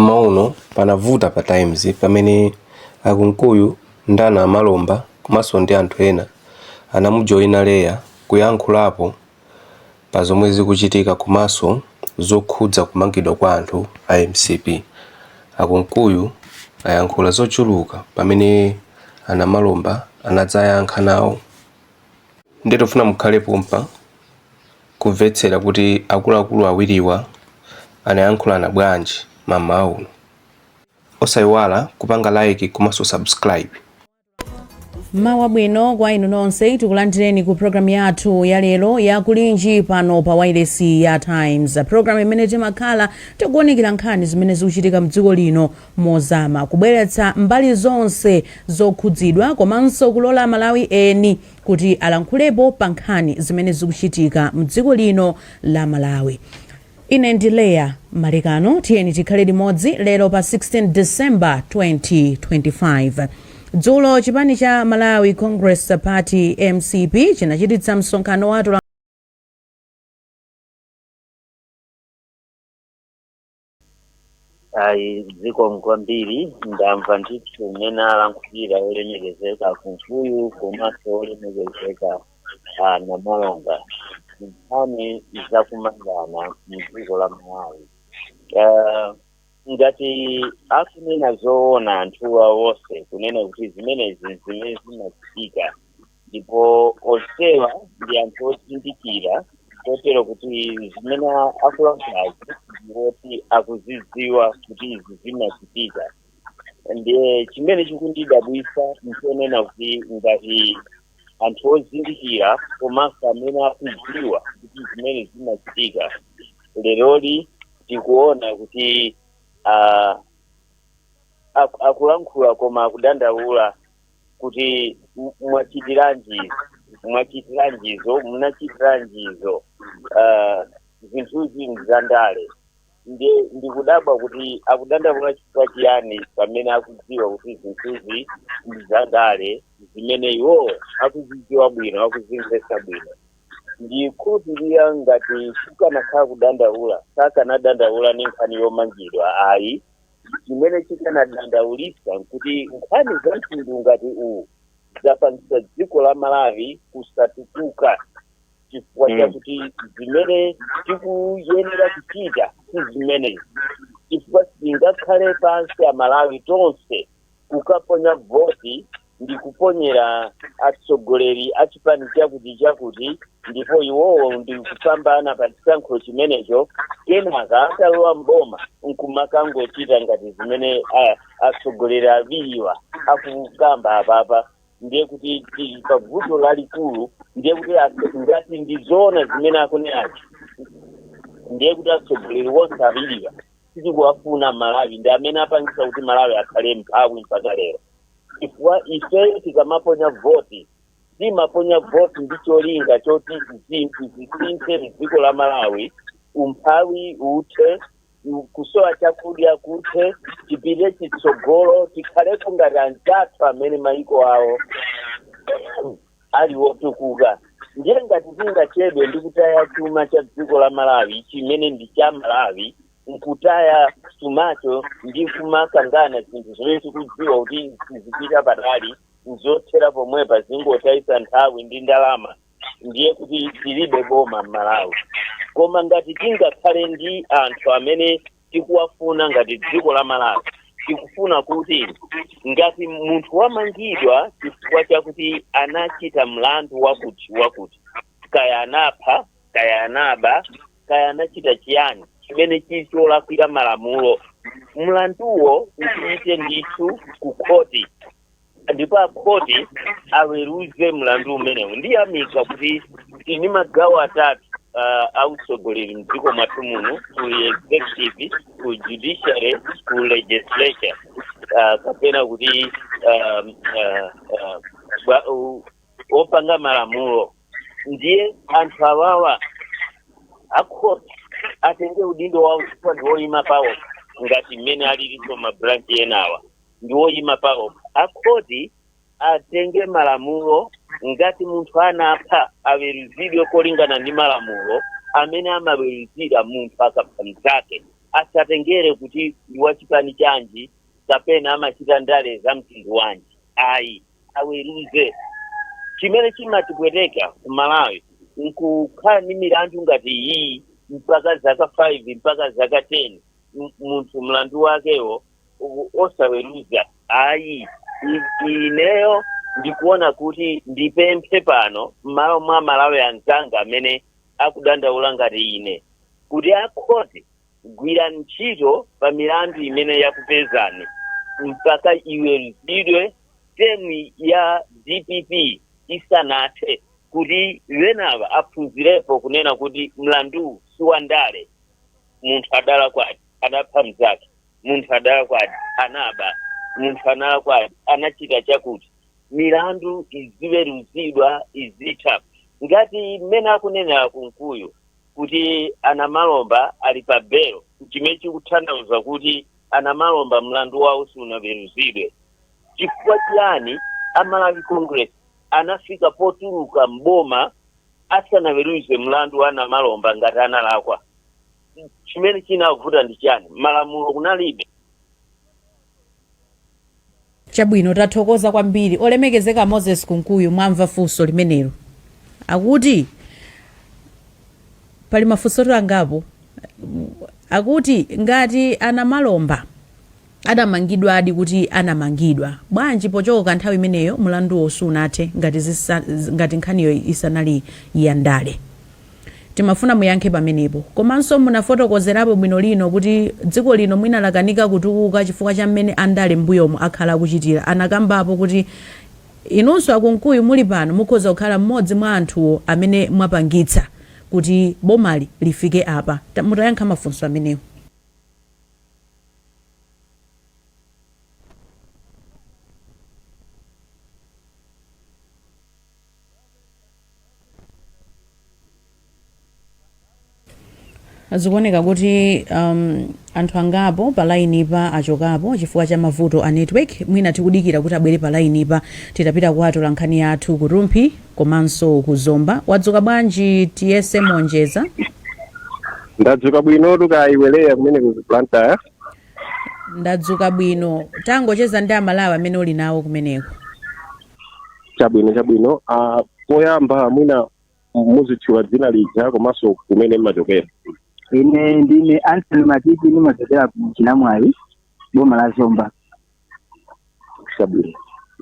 Mmawa uno panavuta pa Times pamene a Kunkuyu ndi a Namalomba komanso ndi anthu ena anamujoina Leah kuyankhulapo pa zomwe zikuchitika komanso zokhudza kumangidwa kwa anthu a mcp. A Kunkuyu ayankhula zochuluka pamene a Namalomba anadzayankha nawo. Nde tikufuna mukhale pompa. kumvetsera kuti akuluakulu awiriwa anayankhulana bwanji mmawa uno. Osaiwala kupanga like komanso subscribe. Mmawa wabwino kwa inu nonse tikulandireni ku programu yathu ya lero ya kulinji pano pa wailesi ya Times, programu imene timakhala tikuwunikira nkhani zimene zikuchitika mdziko lino mozama, kubweretsa mbali zonse zokhudzidwa komanso kulola Amalawi eni kuti alankhulepo pa nkhani zimene zikuchitika mdziko lino la Malawi. Ine ndi Leah Malekano tiyeni tikhale limodzi lero pa 16 December 2025. Dzulo chipani cha Malawi Congress Party mcp chinachititsa msonkhano wa ayi zikomo kwambiri ndamva ndithu mmene alankhulira olemekezeka Kunkuyu komanso olemekezeka ah, Namalomba nkhani zakumangana mdziko la malawi Ah, ngati akunena zoona anthuwa wonse kunena kuti zimenezi zimene zinachitika ndipo onsewa ndi anthu ozindikira kotero kuti zimene akulankhulazi ndi zoti akuzidziwa kuti izi zinachitika ndiye chimene chikundidabwitsa nchonena kuti ngati anthu ozindikira komanso amene akudziwa kuti zimene zinachitika leroli tikuona kuti ah, aku- akulankhula koma akudandaula kuti m- mwachitiranji mwachitiranjizo munachitiranjizo uh, zinthuzi nzandale nde ndikudabwa kuti akudandaula chifukwa chiyani pamene akudziwa kuti zinthuzi nzandale zimene iwo akuzidziwa bwino akuzimvetsa bwino ndikhulupirira ngati kukanakhala kudandaula sitikanadandaula ndi nkhani yomangidwa ayi chimene chikanatidandaulitsa nkuti nkhani za mtundu ngati uwu zapangitsa dziko la malawi kusatukuka chifukwa Mm. chakuti zimene tikuyenera kuchita si zimenezi chifukwa sitingakhale pansi amalawi tonse kukaponya voti ndi kuponyera atsogoleri a chipani chakuti chakuti ndipo iwowo ndi kupambana pa chisankho chimenecho kenaka atalowa mboma nkumakangochita ngati zimene a- atsogoleri awiriwa akukamba apapa ndiye kuti tili pa vuto lalikulu ndiye kuti atso- ngati ndi zoona zimene akunenazi ndiye kuti atsogoleri wonse awiriwa sakuwafuna Malawi ndi amene apangisa kuti malawi akhale mphawi mpaka lero chifukwa ifeyo tikamaponya voti timaponya voti ndi cholinga choti zinthu zisinthe mdziko la malawi umphawi uthe kusowa chakudya kuthe tipite chitsogolo tikhaleko ngati anzathu amene maiko awo ali wotukuka ndiye ngati tingachedwe ndi kutaya chuma cha dziko la malawi chimene ndi cha amalawi nkutaya chumacho ndi kumakangana zinthu zimene tikudziwa kuti sizipita patali nzothera pomwepa zingotayisa nthawi ndi ndalama ndiye kuti tilibe boma m'malawi koma ngati tingakhale ndi anthu amene tikuwafuna ngati dziko la malawi tikufuna kuti ngati munthu wamangidwa chifukwa chakuti anachita mlandu wakuti wakuti kaya anapha kaya anaba kaya anachita chiyani chimene chili cholakwira malamulo mlanduwo upite ndithu ku khoti ndipo akhoti aweruze mlandu umenewu ndiyamika kuti tili ndi magawo atatu uh, a utsogoleri mdziko mwathu muno ku executive ku judiciary ku legislature uh, kapena kuti um, uh, uh, bwa- u- opanga malamulo ndiye anthu awawa akhoti atenge udindo wawo chifukwa ndi woyima pawo ngati mmene alilinso mabranchi enawa ndi woyima paokha akhoti atenge malamulo ngati munthu anapha aweruzidwe kolingana ndi malamulo amene amaweruzira munthu akapha mnzake asatengere kuti ndi wachipani chanji kapena amachita ndale za mtundu wanji ayi aweruze chimene chimatipweteka ku malawi nkukhala ndi milandu ngati iyi mpaka zaka 5 mpaka zaka 10 m- munthu mlandu wakewo u- osaweruza ayi I- ineyo ndikuona kuti ndipemphe pano m'malo mwa amalawi anzanga amene akudandaula ngati ine kuti akhoti gwirani ntchito pa milandu imene yakupezani mpaka iweruzidwe temu ya dpp isanathe kuti enawa aphunzirepo kunena kuti mlandu si wandale munthu adalakwadi adapha mzake munthu adalakwadi anaba munthu analakwadi anachita chakuti milandu iziweruzidwa izitha ngati mmene akunenera kunkuyu kuti anamalomba ali pa belo chimene chikuthandauza kuti anamalomba mlandu wawo sunaweruzidwe chifukwa chiyani amalawi congress anafika potuluka m'boma asanaweruze mlandu wa anamalomba ngati analakwa chimene chinavuta ndi chani malamulo kunalibe chabwino tathokoza kwambiri olemekezeka moses kunkuyu mwamva funso limenelo akuti pali mafunso angapo akuti ngati anamalomba adamangidwadi kuti anamangidwa bwanji pochoka nthawi imeneyo mulanduwo sunathe ngati zisa ngati nkhaniyo isanali ya ndale timafuna muyankhe pamenepo komanso munafotokozerapo bwino bwino kuti dziko lino mwina lakanika kutukuka chifukwa cha mmene andale m'mbuyomu akhala akuchitira anakambapo kuti inunso akunkuyu muli pano mukhoza kukhala mmodzi mwa anthuwo amene mwapangitsa kuti bomali lifike apa Ta- mutayankha mafunso amenewo zikuoneka kuti um, anthu angapo pa lainipa achokapo chifukwa cha mavuto a network mwina tikudikira kuti abwere pa lainipa titapita kwa atolankhani athu ku rumphi Komanso ku Zomba wadzuka bwanji tiyese monjeza? ndadzuka bwinotu kaya iwe leah kumene ku blantyre Ndadzuka bwino. Tangocheza ndi amalawi amene uli nawo kumeneko. chabwino chabwino Ah, poyamba mwina muzitchula dzina lija komanso kumene mmachokera ine ndine anthony matiti ndimachokera ku chinamwali boma la zomba chabwino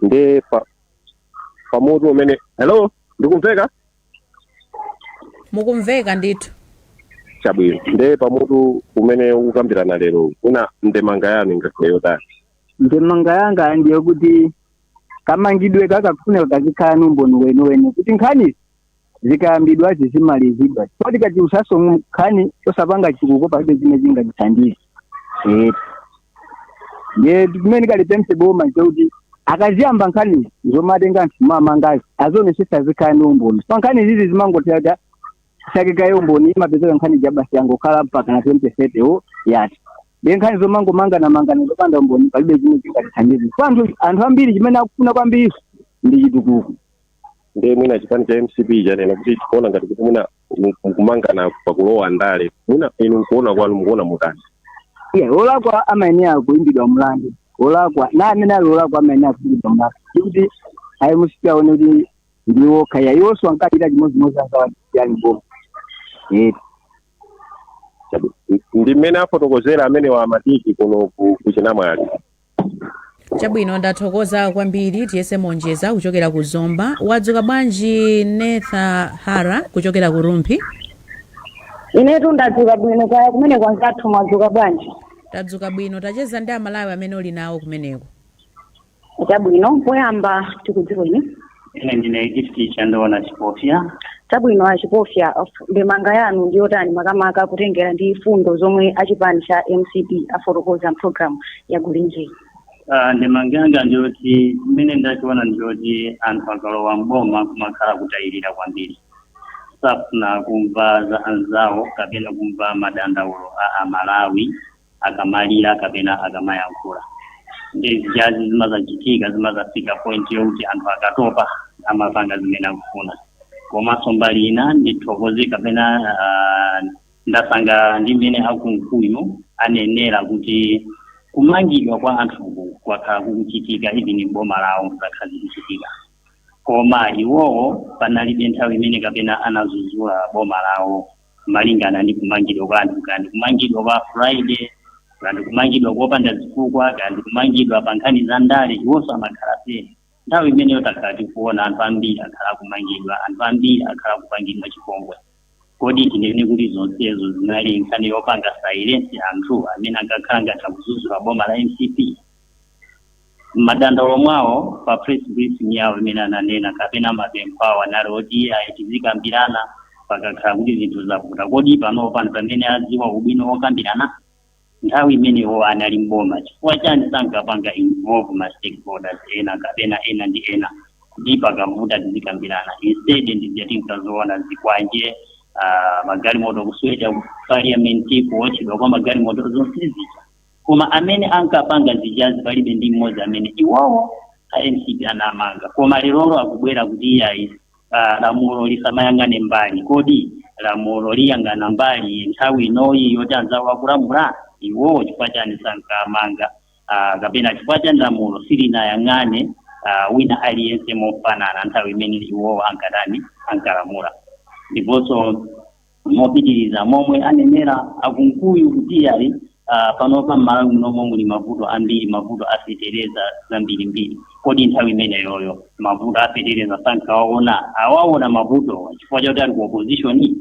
nde pa pa mutu umene hello ndikumveka mukumveka ndithu chabwino nde pa mutu umene tikukambirana lero lino ndemanga yanu ingakhale yotani ndemanga yanga ndi yakuti kamangidwe kakufuneka kazikhala ni umboni weniweni kuti nkhani zikayambidwa zizimalizidwa chifukwa tikachulusaso nkhani osapanga chitukuko palibe zimene zingatithandize Eh. ndiye chimene ndingalipemphe boma nchekuti akamayamba nkhani zomatenga anthu m'mamangazi azionesesa zikhala ndi umboni chifukwa nkhani izizi zimangoti akati asake kaye umboni imapezeka nkhani ija basi yangokhala mpakana 2030 wo yati ndiye nkhani zomangomanganamangana zopanda umboni palibe zimene zingatithandize chifukwa anthu anthu ambiri chimene akufuna kwambiri ndi chitukuko ndiye mwina chipani cha mcp chanena kuti tikuona ngati kuti mwina mu- mukumangana pakulowa ndale mwina inu nkuona kwanu mukuona motani Yeah, olakwa amayenera kuimbidwa mlandu olakwa na amene ali olakwa amayenera kuimbidwa mlandu ndikuti ayi musiti aone kuti ndiwo kaya iwonso ankachita chimodzimodzi ankawachitiyani boma Eh, Chabe. ndi mmene afotokozera amene wa matiki kuno ku- kuchinamwali chabwino ndathokoza kwambiri tiyese monjeza kuchokera ku zomba mwadzuka bwanji netha hara kuchokera ku rumphi inetu ndadzuka bwino kaya kumene kwanzathu mwadzuka bwanji tadzuka bwino tachezani ndi amalawi amene uli nawo kumeneko chabwino poyamba tikudziweni ine ndine gifti chandoona chipofya chabwino achipofya ndemanga yanu ndi yotani makamaka kutengera ndi fundo zomwe achipani cha mcp afotokoza mu pulogalamu ya gulinji Ah, ndemanga yanga ndiyoti mmene ndachiona ndiyoti anthu akalowa mboma kumakhala kutayirira kwambiri safuna kumva za anzawo kapena kumva madandaulo a amalawi akamalira kapena akamayankhula ndiye zijazi zimazachitika zimazafika point yokuti anthu akatopa amapanga zimene akufuna komanso mbali ina ndithokoze kapena uh, ndasangalala ndi mmene akunkuyu anenera kuti kumangidwa kwa anthuku kwakhala kukuchitika even ndi boma lawo zakhala zikuchitika koma iwowo panalibe nthawi imene kapena anadzudzula boma lawo malingana ndi kumangidwa kwa anthu kaya ndi kumangidwa kwa friday kaya ndi kumangidwa kopanda zifukwa kaya ndi kumangidwa pa nkhani za ndale iwonso amakhala phee nthawi imeneyo takhala tikuona anthu ambiri akhala akumangidwa anthu ambiri akhala akupangidwa chipongwe kodi tinene kuti zonsezo zinali nkhani yopanga silence anthu amene ankakhala ngati akudzudzula boma la mcp mmadandaulo mwawo pa press briefing yawo imene ananena kapena mapempho awo anali oti ayi tizikambirana pakakhala kuti zinthu zavuta kodi pano pano pamene adziwa ubwino wokambirana nthawi imene iwo anali mboma chifukwa chani sankapanga involve ma stakeholders ena kapena ena ndi ena kuti pakavuta tizikambirana instead ndizija tinkaziona zikwanje ah, magalimoto kuswedwa ku parliament kuotchedwa kwa magalimoto zonse zija koma amene ankapanga zijazi palibe ndi mmodzi amene iwowo a mcp anamanga koma lerolo akubwera kuti iyayi ah, lamulo lisamayang'ane mbali kodi lamulo liyang'ana mbali nthawi inoyi yoti anzawo akulamula iwowo chifukwa chani sankamanga ah, kapena chifukwa chani lamulo silinayang'ane ah, wina aliyense mofanana nthawi imene iwowo ankatani ankalamula ndiponso mopitiriza momwe anenera a Kunkuyu kuti yayi uh, panopa m'malawi munomo muli mavuto ambiri mavuto afetereza zambirimbiri kodi nthawi imeneyoyo mavuto afetereza sankawaona awaona mavutowa chifukwa chakuti ali ku opposition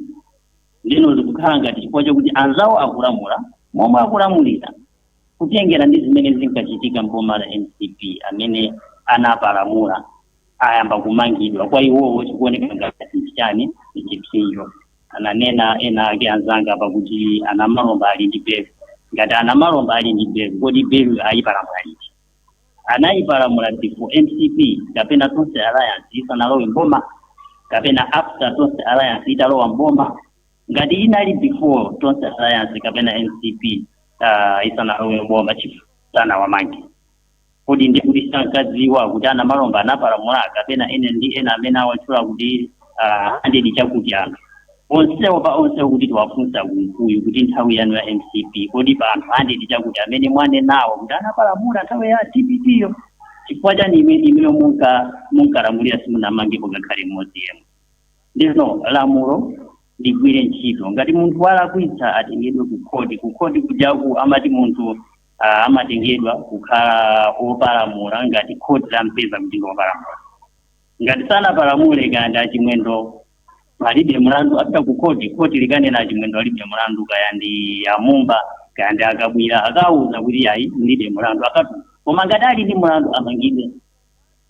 ndino zikukhala ngati chifukwa chakuti anzawo akulamula momwe akulamulira kutengera ndi zimene zinkachitika mboma la mcp amene anapalamula ayamba kumangidwa kwa iwowo chikuoneka ngati chani chipsinjo ananena ena ake anzanga pakuti a Namalomba ali ndi belo ngati a Namalomba ali ndi belo kodi belo ayipalamula liti anayipalamula before mcp kapena tonse alliance isanalowe mboma kapena after tonse alliance italowa mboma ngati inali before tonse alliance kapena mcp uh, isanalowe mboma chifu sanawamange kodi ndi kuti sankadziwa kuti a Namalomba anapalamula kapena ena ndi ena amene awatchula kuti ah, a Ndidi Chakuti anthu onsewo pa onsewo kuti tiwafunse a Kunkuyu kuti nthawi yanu ya mcp kodi pa anthu a Ndidi Chakuti amene mwanenawo kuti anapalamula nthawi ya dpp-yo chifukwa chani ime imeneyo munka munkalamulira simunamangepo ngakhale mmodzi yemwe ndiyeno lamulo ligwire ntchito ngati munthu walakwitsa atengedwe kukhoti kukhoti kujaku amati munthu ah, amatengedwa kukhala opalamula ngati khoti lampeza kuti ndi opalamula ngati sanapalamule kaya ndi a Chimwendo alibe mlandu apita ku khoti khoti likanena a Chimwendo alibe mlandu kaya ndi a Mumba kaya ndi a Kabwila akawuza kuti yayi mulibe mlandu akatu koma ngati ali ndi mlandu amangidwe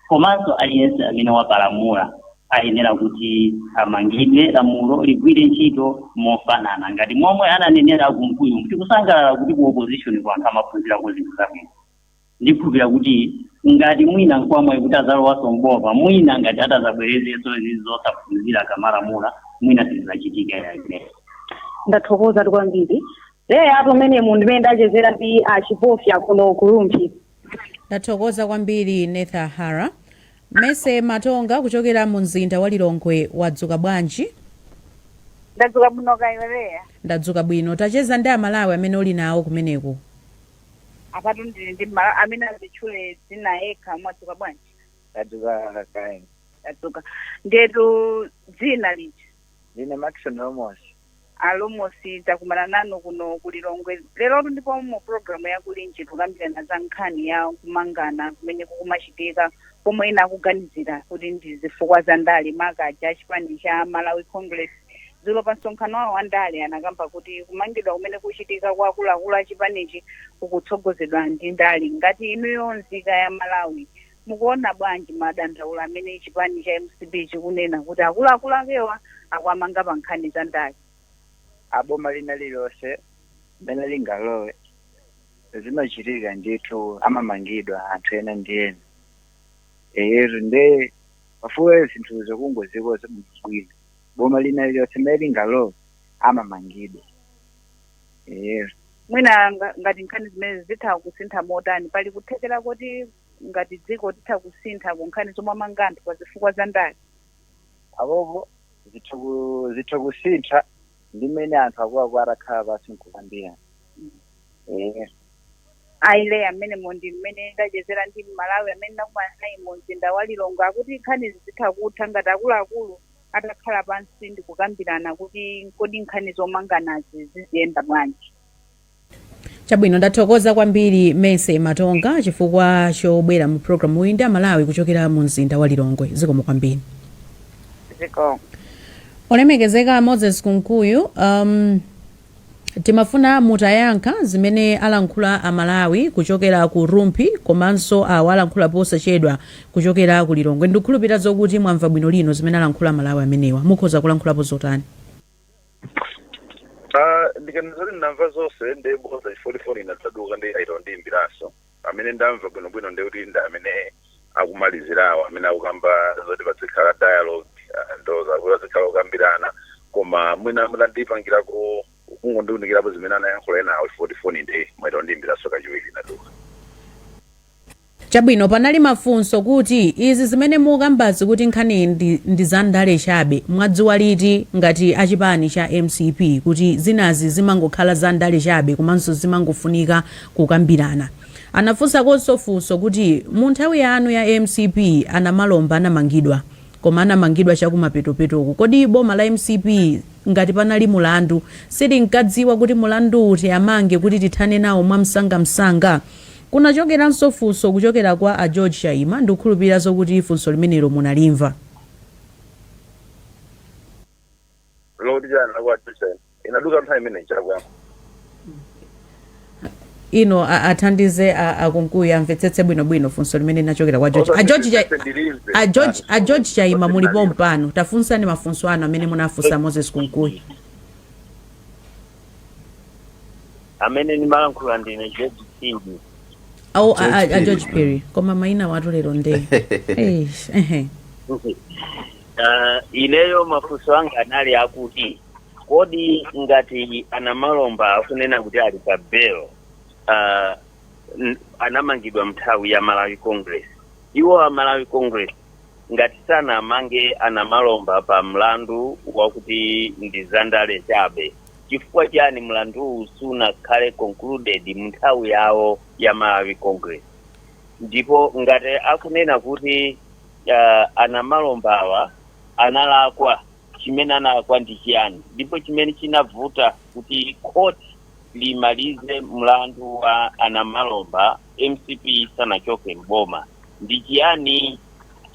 komanso aliyense amene wapalamula ayenera kuti amangidwe lamulo ligwire ntchito mofanana ngati momwe ananenera a Kunkuyu tikusangalala kuti ku opposition kwa anthu amaphunzirako zinthu zabwino ndikhulupira kuti ngati mwina nkwamwayi kuti azalowanso mboma mwina ngati atazabwerezenso izi zosaphunzira akamalamula mwina sizizachitika ya ndathokozatu kwambiri leya amenewo munthu amene ndachezera ndi a Chipofya kuno ku rumphi Ndathokoza kwambiri Netha Hara. Mercy Matonga kuchokera mu mzinda wa Lilongwe wadzuka bwanji? ndadzuka bwino kaya iwe leya Ndadzuka bwino. Tacheza ndi Amalawi amene uli nawo kumeneko. apatu ndili ndi mmalawi amene azitchule dzina yekha mwadzuka bwanji tadzuka kaya tadzuka ndetu dzina lija Ndine Maxon Lomosi. a lomosi takumana nanu kuno ku lilongwe lerotu ndipo mu programu ya kulinji tikukambirana za nkhani ya kumangana kumene kukumachitika pomwe ena akuganizira kuti ndi zifukwa za ndale makaka a chipani cha malawi congress dzulo pa msonkhano wawo wa ndale anakamba kuti kumangidwa kumene kukuchitika kwa akuluakulu a chipanichi kukutsogozedwa ndi ndale ngati inuyo nzika ya malawi Mukuona bwanji madandaulo amene chipani cha mcp chikunena kuti akuluakulu ake akuwamanga pa nkhani za ndale? aa boma lina lililonse mmene lingalowe zimachitika ndithu amamangidwa anthu ena ndi ena eyetu nde pafunika zinthuzo kungozikonza bwino bwino boma lina lililonse mmene lingalowe amamangidwa eyetu Mwina nga- ngati nkhani zimenezi zitha kusintha motani? Pali kuthekera koti ngati dziko titha kusintha ku nkhani zowamanga anthu pa zifukwa za ndale? apopo zitha kusintha ndi mmene anthu akuluakulu atakhala pansi nkukambirana eh Hilda mmenemo ndi mmene ndachezera ndi mmalawi amene ndakumana naye mu mzinda wa lilongwe akuti nkhanizi zitha kutha ngati akuluakulu atakhala pansi ndikukambirana kuti kodi nkhani zomanganazi ziziyenda bwanji chabwino ndathokoza kwambiri mese matonga chifukwa chobwera mu programu uyu ndi amalawi kuchokera mu mzinda wa lilongwe zikomo kwambiri olemekezeka moses kunkuyu um, timafuna mutayankha zimene alankhula amalawi kuchokera ku rumphi komanso awo alankhula posachedwa kuchokera ku lilongwe ndikukhulupirira zokuti mwamva bwino lomwe zimene alankhula amalawi amenewa mukhoza kulankhulapo zotani Ah, ndikanena zoti ndamva zonse ndi bodza chifukwa choti foni inadzaduka nde ayita kundiyimbiranso amene ndamva bwinobwino ndi kuti ndi amene akumalizirawo amene akukamba zoti padzikhala dialogue ah, ndo zakuti padzikhala kukambirana koma mwina mutandipangirako kungondiunikirapo zimene anayankhula enawo chifukwa choti foni nde mwaita kundiyimbiranso kachiwiri inaduka Chabwino panali mafunso kuti izi zimene mukambazi kuti nkhanizi ndi za ndale chabe mwadziwa liti ngati a chipani cha mcp kuti zinazi zimangokhala za ndale chabe komanso zimangofunika kukambirana. Anafunsakonso funso kuti mu nthawi yanu ya mcp a Namalomba anamangidwa koma anamangidwa chakumapetopetoku kodi boma la mcp ngati panali mulandu silinkadziwa kuti mulandu kuti awamange kuti tithane nawo mwamsangamsanga? Kunachokeranso funso kuchokera kwa a George Chaima, ndikukhulupirira zokuti funso limenelo munalimva. Mukuti chani kwa a George Chaima? Inaduka nthawi imeneyi ija akuyankha. Inu athandizeni a Kunkuyu amvetsetse bwino bwino funso limene linachokera kwa George. A George Chai, a George, a George Chaima muli pompano. Tafunsani mafunso anu amene munafunsa Moses Kunkuyu. amene ndimalankhula ndine george phiri awo a- a- a George george Phiri. perry koma maina awatu lero nde Eish, ehe. Ah, ineyo mafunso anga anali akuti kodi ngati anamalomba akunena kuti ali pa bail ah, n- anamangidwa mnthawi ya malawi congress iwo a malawi congress ngati sanawamange anamalomba pa mlandu wakuti ndi zandale chabe chifukwa chiyani mlanduwu sunakhale concluded munthawi yawo ya malawi congress ndipo ngati akunena kuti uh, anamalombawa analakwa chimene analakwa ndi chiyani ndipo chimene chinavuta kuti court limalize mlandu wa anamalomba mcp isanachoke mboma ndi chiyani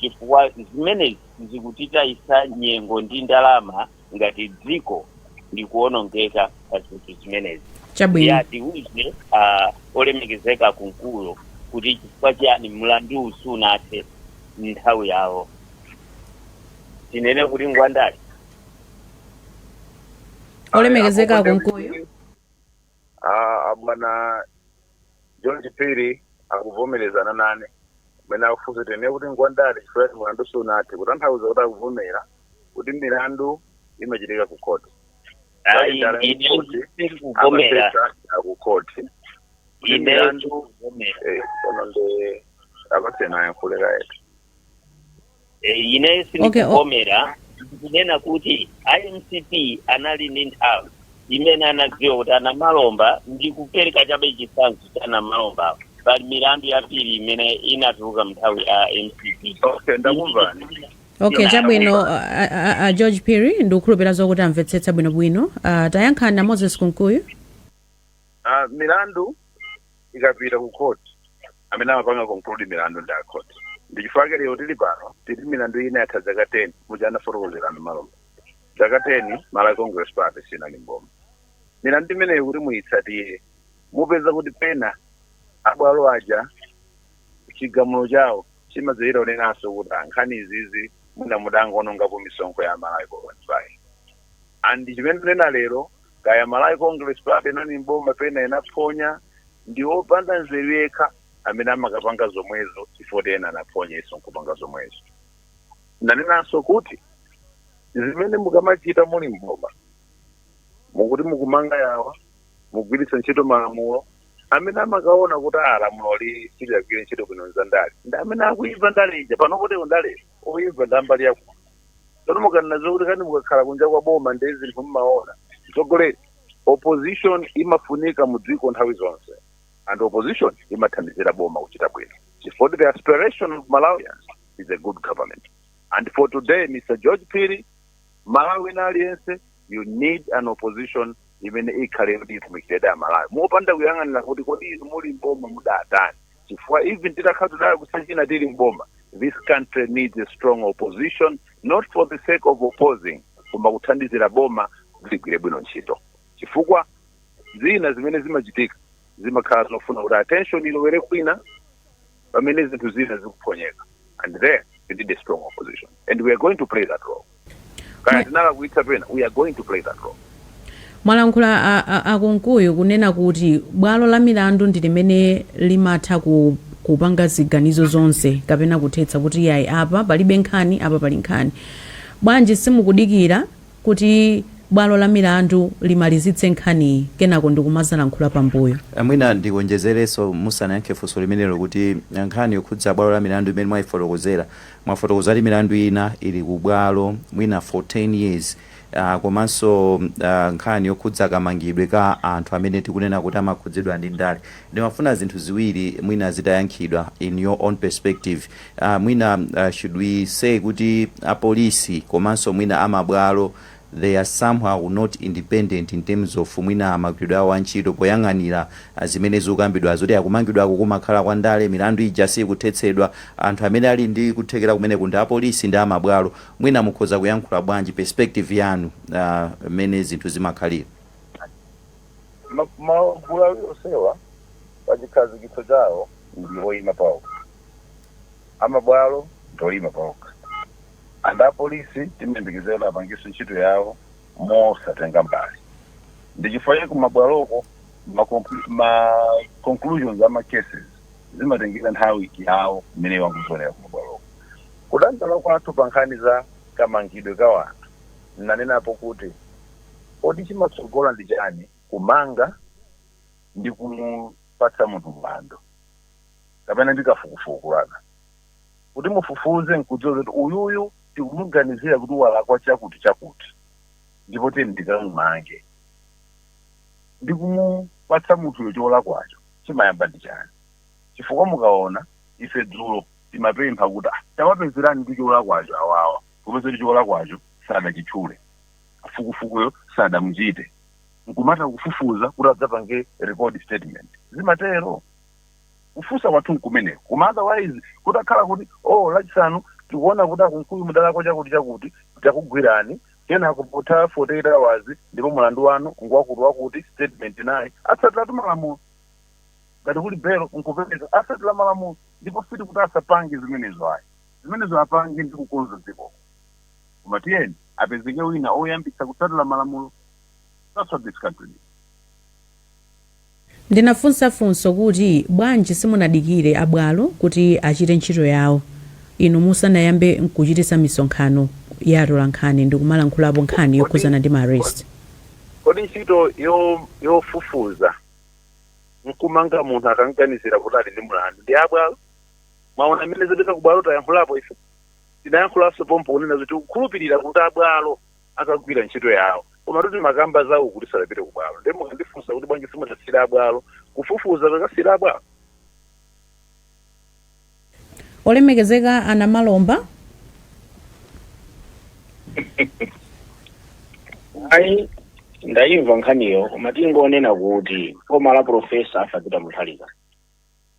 chifukwa zimenezi zikutitayisa nyengo ndi ndalama ngati dziko likuonongeka pa zinthu zimenezi chabwino atiuze ah, olemekezeka Kunkuyu kuti chifukwa chiyani mlandu sunathe mnthawi yawo tinene kuti ngwandale olemekezeka Akonde Kunkuyu kuti- Ah, ah, bwana George Phiri akuvomerezana nane mene akufunsa tinene kuti ngwandale chifukwa kuti mulandu sunathe kutanthauza kuti akuvomera kuti milandu imachitika ku khoti ayi Ndale ine kuti ndikuvomera akuti ku khoti ine milandu- ndikuvomera Eh, tsono nde apasena yankhuleka yetu Eh, ineyo Okay, o- sindikuvomera ndikunena kuti a mcp anali ndi nthawi imene anadziwa kuti anamalomba ndikupereka chabe chitsanzo cha anamalomba pali milandu yambiri imene inatuluka mnthawi ya mcp okay ndakumvani okay Ina- chabwino a, a, a- a george phiri ndikukhulupira zokuti amvetsetsa bwinobwino uh, tayankhani a moses kunkuyu Ah, milandu ikapita ku court amene amapanga conclude milandu ndi akhoti ndi chifukwa chake lero tili pano pali milandu ina yatha zaka 10 muja anafotokozerana maloma zaka 10 malawi congress party sinali mboma milandu imeneyo kuti muyitsatire mupeza kuti pena abwalo aja chigamulo chawo chimadziwika akunenanso kuti ah nkhani zizi mwina mudangoonongapo misonkho ya amalawi kwa 25 and chimene tikunena lero kaya Malawi Congress Party inali mboma pena inaphonya ndi opanda nzeru yekha amene amakapanga zomwezo chifukwa ena anaphonya iwonso nkupanga zomwezo nanenanso kuti zimene mukamachita muli mboma mukuti mukumanga yawa mugwiritsa ntchito malamulo amene amakaona kuti "Ah, lamuloli silinagwire ntchito bwino nzandale ndi amene akuimva ndale ija pano kuti ndale oimva ndambali yakuno tsono mukanena zokuti kani mukakhala kunja kwa boma ndi zinthu mumaona mtsogoleri opposition imafunika mu dziko nthawi zonse and opposition imathandizira boma kuchita bwino for the aspiration of malawians is a good government and for today mr george piri malawi na aliyense you need an opposition imene ikhale yoti itumikiredi amalawi mopanda kuyang'anira kuti kodi inu muli mboma mudatani chifukwa even titakhala kuti tidalakwitsa china tili mboma this country needs a strong opposition not for the sake of opposing koma kuthandizira boma kuti ligwire bwino ntchito chifukwa zina zimene zimachitika zimakhala zofuna kuti attention ilowere kwina pamene zinthu zina zikuphonyeka and there you need a strong opposition and we are going to play that role kaya tinalakwitsa pena we are going to play that role mwalankhula a- a- akunkuyu kunena kuti bwalo la milandu ndi limene limatha ku kupanga ziganizo zonse kapena kuthetsa kuti yayi apa palibe nkhani apa pali nkhani bwanji simukudikira kuti bwalo la milandu limalizitse nkhaniyi kenako ndikumazalankhula pambuyo. Mwina ndiwonjezerenso musanayankhe funso limenelo kuti nkhani yokhudza bwalo la milandu imene mwayifotokozera, mwafotokoza kuti milandu ina ili ku bwalo mwina for 10 years komanso nkhani yokhudza kamangidwe ka anthu amene tikunena kuti amakhudzidwa ndi ndale. Ndimafuna zinthu ziwiri mwina zitayankhidwa in your own perspective. aah mwina should we say kuti apolisi komanso mwina amabwalo they are somehow not independent in terms of mwina magwiridwe awo a ntchito poyang'anira zimene zikukambidwazo kuti kumangidwaku kumakhala kwa ndale milandu ija siikuthetsedwa anthu amene ali ndi kuthekera kumeneku ndi apolisi ndi amabwalo mwina mukhoza kuyankhula bwanji perspective yanu aah mmene zinthu zimakhalira. Magulu awiri onsewa pachikhazikitso chawo ndi oyima paokha. amabwalo ndi oima paokha and apolisi timayembekezera kuti apangenso ntchito yawo mosatenga mbali ndi chifukwa chake ku mabwaloko ma, conclu- ma conclusions a ma cases zimatengera nthawi yawo imene iwo akuziwonera ku mabwaloko kudandaula kwathu pa nkhani za kamangidwe ka wanthu ndinanenapo kuti kodi chimatsogola ndi chani kumanga ndi kumupatsa munthu mlandu kapena ndi kafukufuku wanu kuti mufufuze nkudziwa zoti uyuyu tikumuganizira kuti walakwa chakuti chakuti ndipo tiyeni tikamumange ndi kumupatsa munthuyo cholakwacho chimayamba ndi chani chifukwa mukaona ife dzulo timapempha kuti "Ah, tawapezerani cholakwacho awawa popeza kuti cholakwacho sadachitchule kafukufukuyo sadamuchite nkumata kufufuza kuti adzapange record statement zimatero Kufunsa kwathu nkumeneko koma otherwise kutakhala kuti oh lachisanu tikuona kuti a Kunkuyu mudalakwa chakuti chakuti takugwirani kenako potha 48 hours ndipo mulandu wanu ngwakuti wakuti statement nayi atsatiratu malamulo ngati kuli belo nkupereka atsatira malamulo ndipo sitikuti asapange zimenezo ayi zimenezo apange ndi kukonza dziko koma tiyeni apezeke wina oyambitsa kutsatira malamulo that's what this country needs. Ndinafunsa funso kuti, Bwanji simunadikire a bwalo kuti achite ntchito yawo inu musanayambe nkuchititsa misonkhano ya atolankhani ndikumalankhulapo nkhani yokhuzana ndi ma arrest? kodi ntchito yo, yofufuza nkumanga munthu akamganizira kuti ali ndi mlandu ndi ya bwalo? Mwaona mmene zopita ku bwalo tayankhulapo ife? Tinayankhulanso pompo kunena zoti tikukhulupirira kuti a bwalo akagwira ntchito yawo komatu timakamba za uku tisadapite ku bwalo ndiye mukandifunsa kuti bwanji simunasiyire abwalo kufufuza kukasiyira abwalo olemekezeka a Namalomba ayi ndayimva nkhaniyo koma tingonena kuti boma la profesa Arthur Peter Mutharika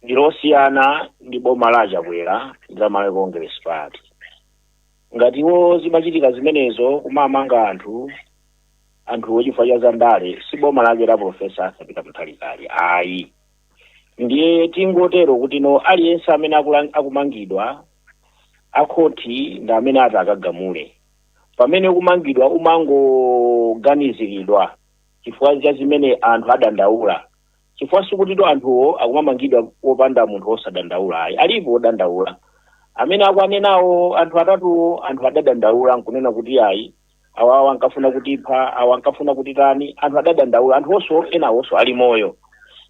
ndilosiyana ndi boma la a Chakwera la malawi congress party Ngati iwo zimachitika zimenezo kumamanga anthu anthuwo chifukwa cha zandale si boma lake la Professor Arthur Peter Mutharika ili ayi ndiye tingotero kuti no aliyense amene akulang- akumangidwa akhoti ndi amene ati akagamule pamene kumangidwa umangoganiziridwa chifukwa cha zimene anthu adandaula chifukwa sikutinso anthuwo akumamangidwa popanda munthu wosadandaula ayi alipo wodandaula amene akuanenawo anthu atatuwo anthu adadandaula nkunena kuti ayi awawa ankafuna kutipha awa ankafuna kutitani anthu adadandaula anthuwonso enawonso ali moyo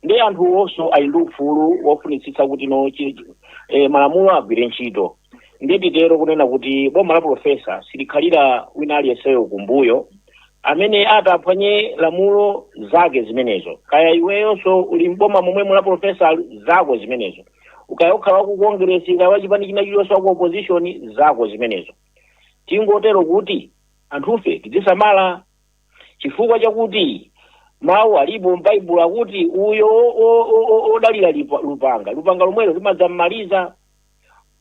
ndiye anthuwonso ali ndi ufulu wofunitsitsa kuti no chi- chi- eh, malamulo agwire ntchito ndiye titero kunena kuti boma la profesa silikhalira wina aliyenseyo kumbuyo amene ati aphwanye lamulo zake zimenezo kaya iweyonso uli mboma momwemu la profesa zako zimenezo ukaya ukhala waku kongresi kaya wachipani china chiliyonse waku opposition zako zimenezo tingotero kuti anthufe tidzisamala chifukwa chakuti mawu alipo m'baibulo akuti uyo o- o- o- o- odalira lipa- lupanga lupanga lomwero limadzam'maliza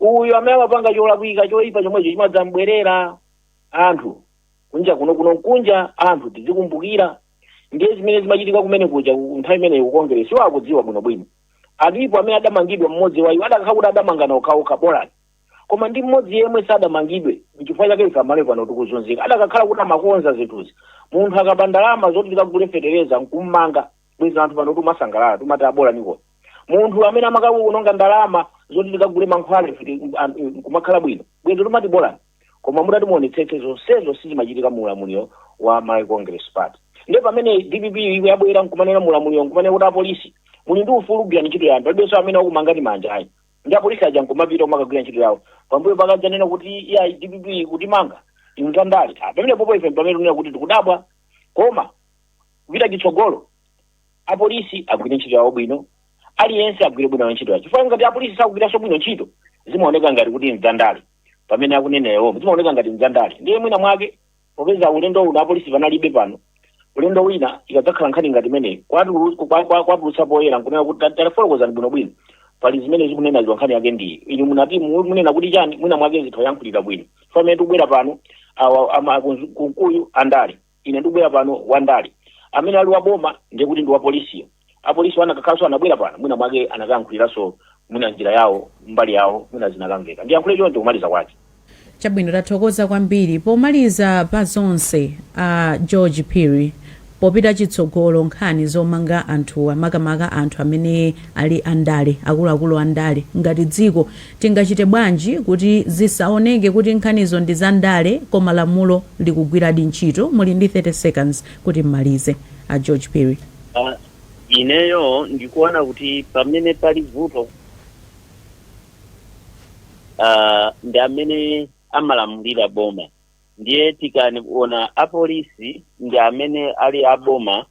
uyo amene amapanga cholakwika choyipa chomwecho chimadzambwerera anthu kunja kuno kuno nkunja anthu tizikumbukira ndiye zimene zimachitika kumene kuja ku- nthawi imeneyo ku Kongeresi iwo akudziwa bwinobwino alipo amene adamangidwa mmodzi wa iwo adakhala kuti adamangana okhaokha bolani koma ndi mmodzi yemwe sadamangidwe nchifukwa chake ife amalawi pano tikuzunzika adakakhala kuti amakonza zinthuzi munthu akaba ndalama zoti tikagule fetereza nkummanga bwezi anthu pano timasangalala timati abolaniko munthu amene amakakuononga ndalama zoti tikagule mankhwala ife ti- an- nkumakhala bwino bwezi timati bolani koma mutati muonetsetse zonsezo sizimachitika mu ulamuliro wa Malawi Congress Party nde pamene dpp ife yabwera nkumanena mu ulamuliro nkumanena kuti apolisi muli ndi ufulu kugwira ntchito yanu palibenso amene akumangani manja ayi ndi apolisi aja nkumapita kumakagwira ntchito yawo pambuyo pake adzanena kuti iya dpp ikutimanga ndi zandale pamene popo ife pamene tunena kuti tikudabwa koma kupita chitsogolo apolisi agwire ntchito yawo bwino aliyense agwire bwino ntchito yawo chifukwa ngati apolisi sakugwiranso bwino ntchito zimaoneka ngati kuti nzandale pamene akunena iwowa zimaoneka ngati nzandale ndiye mwina mwake popeza ulendo uno apolisi panalibe pano ulendo wina ikadzakhala nkhani ngati imeneyi kwatulu- kwa- kwa- kwatulutsa poyera nkunena kuti ta- tafotokozani bwinobwino pali zimene akunenazi awa nkhani yake ndiyi inu munati mu- munena kuti chani mwina mwake atha ayankhulira bwino pamene tikubwera pano awa ama- kunzu- kunkuyu andale Ina ndikubwera pano, wandale amene ali wa boma, ndiye kuti ndi wa polisiyo, apolisiwo anakakhalanso, anabwera pano, mwinamwake anakayankhuliranso mwina m'njira yawo, mbali yawo, mwina zinakamveka. Ndiyankhule choncho kumaliza kwake. Chabwino, tathokoza kwambiri. Pomaliza pa zonse, a George Phiri, popita chitsogolo nkhani zomanga anthuwa, makamaka anthu amene ali andale, akuluakulu andale, ngati dziko Tingachite bwanji kuti zisaoneke kuti nkhanizo ndi zandale koma lamulo likugwiradi ntchito? Muli ndi 30 seconds kuti m'malize, a George Phiri. A, Ineyo ndikuona kuti pamene pali vuto a ndi amene amalamulira boma ndiye tikaona apolisi ndi amene ali a boma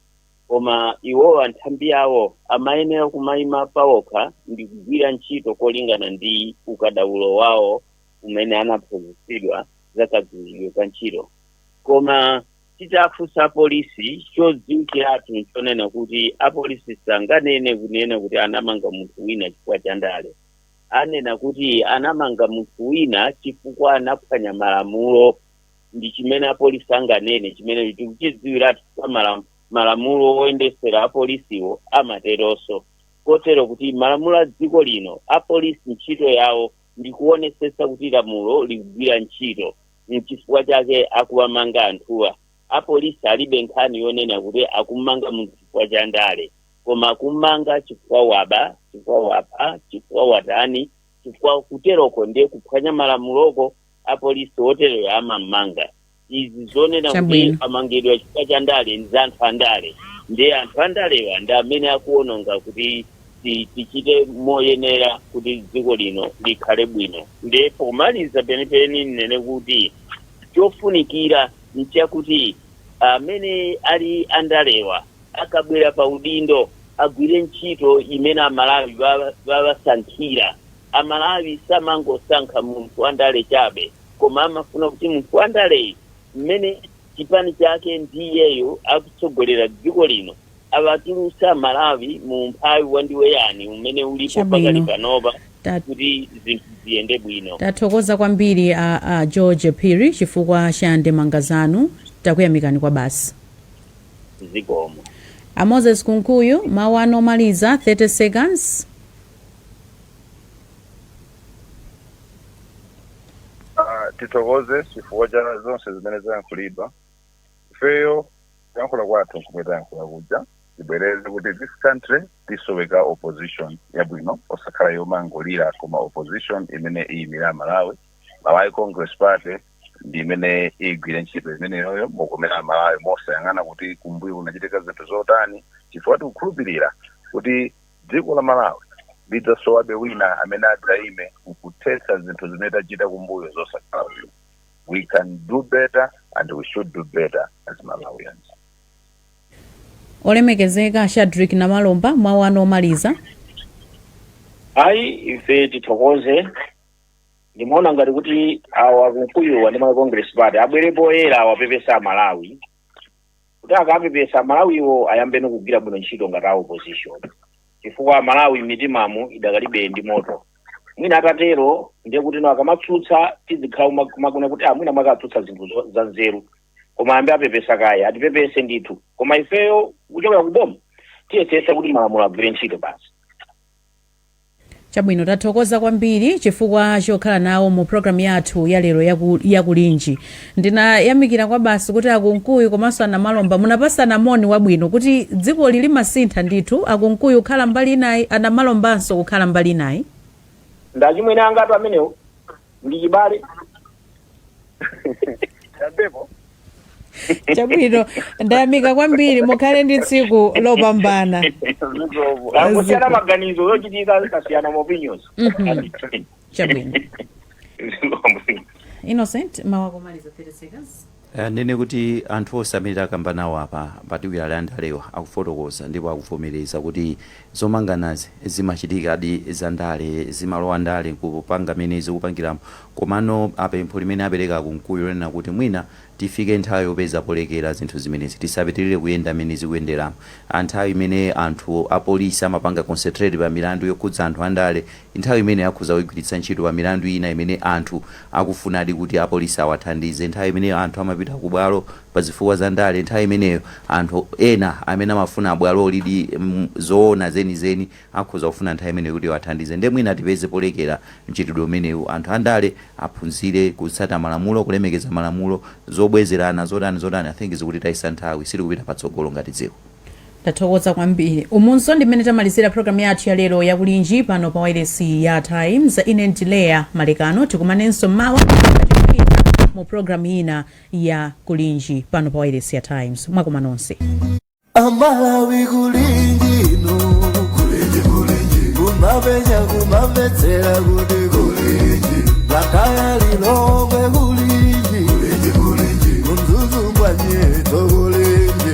koma iwowa nthambi yawo amayenera kumayima pawokha ndi kugwira ntchito kolingana ndi ukadaulo wawo umene anaphunzitsidwa za kagwiridwe ka ntchito koma titafunsa apolisi chodziwikiratu nchonena kuti apolisi sanganene kunena kuti anamanga munthu wina chifukwa cha ndale anena kuti anamanga munthu wina chifukwa anaphwanya malamulo ndi chimene apolisi anganene chimene tikuchidziwiratu kwa malam- malamulo oyendesera apolisiwo amateronso kotero kuti malamulo a dziko lino apolisi ntchito yawo ndi kuonesetsa kuti lamulo likugwira ntchito nchifukwa chake akuwamanga anthuwa apolisi alibe nkhani yonena kuti akumanga munthu chifukwa cha ndale koma akumanga chifukwa waba chifukwa wapha chifukwa watani chifukwa kuteroko ndiye kuphwanya malamuloko apolisi otereyo amammanga ndiye izi zonena kuti Chabwino. amangidwa chifukwa cha ndale ndi za anthu andale ndiye anthu andalewa ndi amene akuononga kuti ti- tichite moyenera kuti dziko lino likhale bwino ndiye pomaliza penipeni ninene kuti chofunikira nchakuti amene ali andalewa akabwera pa udindo agwire ntchito imene amalawi ba- bawasankhira A Malawi samangosankha munthu wa ndale chabe koma amafuna kuti munthu wa ndaleyu mmene chipani chake ndi iyeyo akutsogolera dziko lino awatulutse a Malawi mu umphawi wa ndiwe yani umene ulipo pakali Chabwino. panopa Ta- kuti zinthu ziyende bwino. Tathokoza kwambiri a, a George Phiri chifukwa cha ndemanga zanu. Takuyamikani kwabasi. Zikomo. A Moses Kunkuyu, mawu anu omaliza 30 seconds. Ah, tithokoze chifukwa cha zonse zimene zayankhulidwa ifeyo kuyankhula kwathu nkumwe tayankhula kuja tibwereze kuti this country ikusoweka opposition yabwino osakhala yomangolira koma opposition imene iyimire amalawi malawi congress party ndi imene igwire ntchito imeneyoyo mokomera amalawi mosayang'ana kuti kumbuyo kunachitika zinthu zotani chifukwa tikukhulupirira kuti Dziko la Malawi lidzasowabe wina amene adzaime nkuthetsa zinthu zimene tachita kumbuyo zosakhala bwino. We can do better and we should do better as Malawians. Olemekezeka a Shadrick Namalomba, mawu anu omaliza. Ayi ife tithokoze ndimaona ngati kuti awa a Kunkuyuwa ndi ma Congress Party abwere poyera awapepese a Malawi kuti akapepesa amalawiwo ayambeno kugwira bwino ntchito ngati a opposition chifukwa amalawi mmitimamu idakalipobe ndi moto mwina atatero ndiye kuti no akamatsutsa tizikhala kuma- kumakuna kuti aa mwina mwake atsutsa zinthu zo- za nzeru koma ayambe apepesa kaye atipepese ndithu koma ifeyo kuchokera ku boma tiyesesa kuti malamulo agwire ntchito basi Chabwino tathokoza kwambiri chifukwa chokhala nawo mu program yathu ya lero yaku, ya Kulinji ndinayamikira kwabasi kuti a Kunkuyu komanso a Namalomba munapasana moni wabwino kuti dzikoli limasintha ndithu a Kunkuyu kukhala mbali inayi a Namalombanso kukhala mbali inayi ndi achimwene angatu amenewo ndi chibale Champepo. chabwino ndayamika kwambiri mukhale ndi tsiku lopambana kusiyana maganizo zochitika zikasiyana maopinions Mhm. chabwino innocent mawu akomaliza 30 seconds Eh, ndinene kuti anthu onse amene takamba nawo apa makamaka a ndalewa akufotokoza ndipo akuvomereza kuti zomanganazi zimachitikadi zandale zimalowa ndale nkupanga mmene zikupangilamo komano apempho limene apeleka a Kunkuyu lonena kuti mwina tifike nthawi yopeza polekela zinthu zimenezi tisapitilile kuyenda mmene zikuyendelamo nthawi imene anthu apolisi amapanga concentrate pamilandu yokhudza anthu andale Nthawi imeneyo akhoza kuigwiritsa ntchito pa milandu ina imene anthu akufunadi kuti apolisi awathandize. Nthawi imene anthu amapita kubwalo pa zifukwa za ndale. Nthawi imeneyo anthu ena amene amafuna bwalolidi zoona zenizeni akhoza kufuna nthawi imeneyo kuti iwathandize. Ndiye mwina tipeze polekera mchitidwe umenewu. Anthu andale aphunzire kutsata malamulo, kulemekeza malamulo. Zobwezerana zotani zotani I think zikutitayitsa nthawi. Sitikupita patsogolo ngati dziko. Tathokoza kwambiri. Umunso ndi mmene tamalizira program yathu ya lero ya kulinji pano pa wailesi ya Times. Ine ndi Leah Malekano tikumanenso mmawa kachiwiri mu program ina ya kulinji pano pa wailesi ya Times. Mwakoma nonse. amalawi kulingino kulinji kulinji kumapenya kumamvetsera kuti kulinji lakaya lilongwe kulinji kulinji kulinji kumzuzumbwa nyeto kulinji